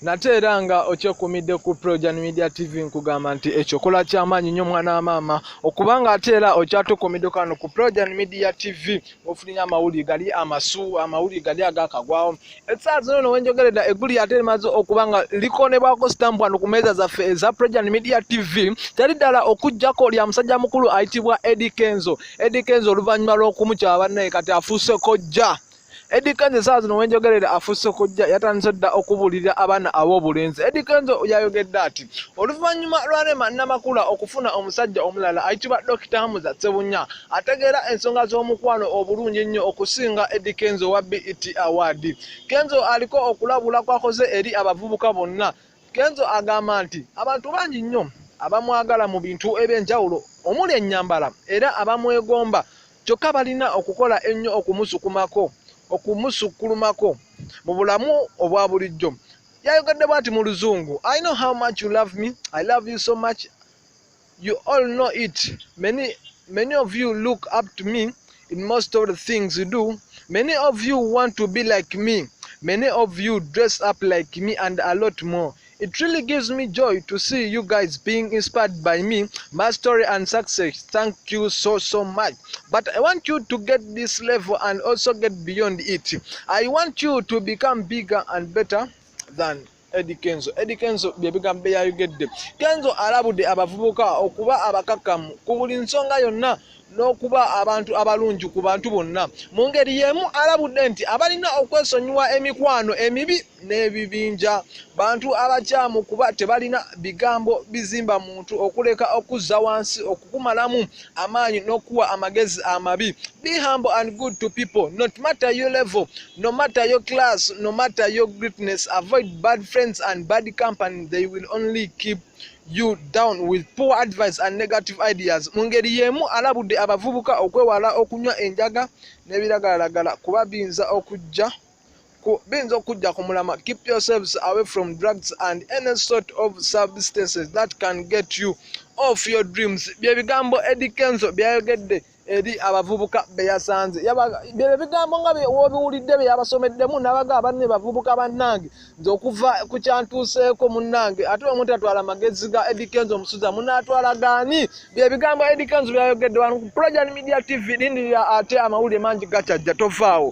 nate era nga okyekumidde ku projan media tv nkugamba nti ekyo kola kyamaanyi nyo mwana wa maama okubanga ate era okyatukumidde kano ku projan media tv ofulinya amawulire gali amasu amawulire gali agakagwawo esaa zino no wenjogereda eggulu yate limaze okuba nga likonebwako sitampu wano ku meeza zaffe eza projan media tv teri ddala okujjako lya musajja mukulu ayitibwa edi kenzo edi kenzo oluvannyuma lw'okumukyaba bannaye kati afuuse kojja Eddy Kenzo esaawa zino wenjogerera afuuse okujja yatandise dda okubuulirira abaana ab'obulenzi Eddy Kenzo yayogedde ati oluvannyuma lwa Rema Namakula okufuna omusajja omulala ayitibwa Dokita Hamza Ssebunya ategeera ensonga z'omukwano obulungi ennyo okusinga Eddy Kenzo wa BET Award Kenzo aliko okulabula kwakoze eri abavubuka bonna Kenzo agamba nti abantu bangi nnyo abamwagala mu bintu eby'enjawulo omuli ennyambala era abamwegomba Kyokka balina okukola ennyo okumusukumako, okumusukkulumako mu bulamu obwa bulijjo. Yayogedde bw'ati mu Luzungu, I know how much you love me, I love you so much, you all know it, many, many of you look up to me in most of the things you do, many of you want to be like me, many of you dress up like me and a lot more. It really gives me joy to see you guys being inspired by me, my story and success. Thank you so, so much. But I want you to get this level and also get beyond it. I want you to become bigger and better than Eddie Kenzo. Eddie Kenzo bye bigambo byeyayogedde. Kenzo alabudde abavubuka okuba abakakamu ku buli nsonga yonna n'okuba abantu abalungi ku bantu bonna. Mu ngeri y'emu alabudde nti abalina okwesonyiwa emikwano emibi n'ebibinja bantu abakyamu kuba tebalina bigambo bizimba muntu okuleka okuzza wansi okukumalamu amaanyi n'okuwa amagezi amabi be humble and good to people not matter your level no matter your class no matter your greatness avoid bad friends and bad company they will only keep you down with poor advice and negative ideas mu ngeri y'emu alabudde abavubuka okwewala okunywa enjaga n'ebiragalalagala kuba biyinza okujja biyinza okujja ku mulama keep yourselves away from drugs and any sort of substances that can get you off your dreams bye bigambo edi kenzo byayogedde eri abavubuka be yasanze bye bigambo nga wobiwulidde bye yabasomeddemu nabaga abanne bavubuka bannange nze okuva ku kyantuuseeko munnange ate omu tatwala magezi ga edikenzo omusuza munaatwala gaani bye bigambo edikenzo byayogedde wano ku projan media tv lindirira ate amawulire mangi gakyajja tovaawo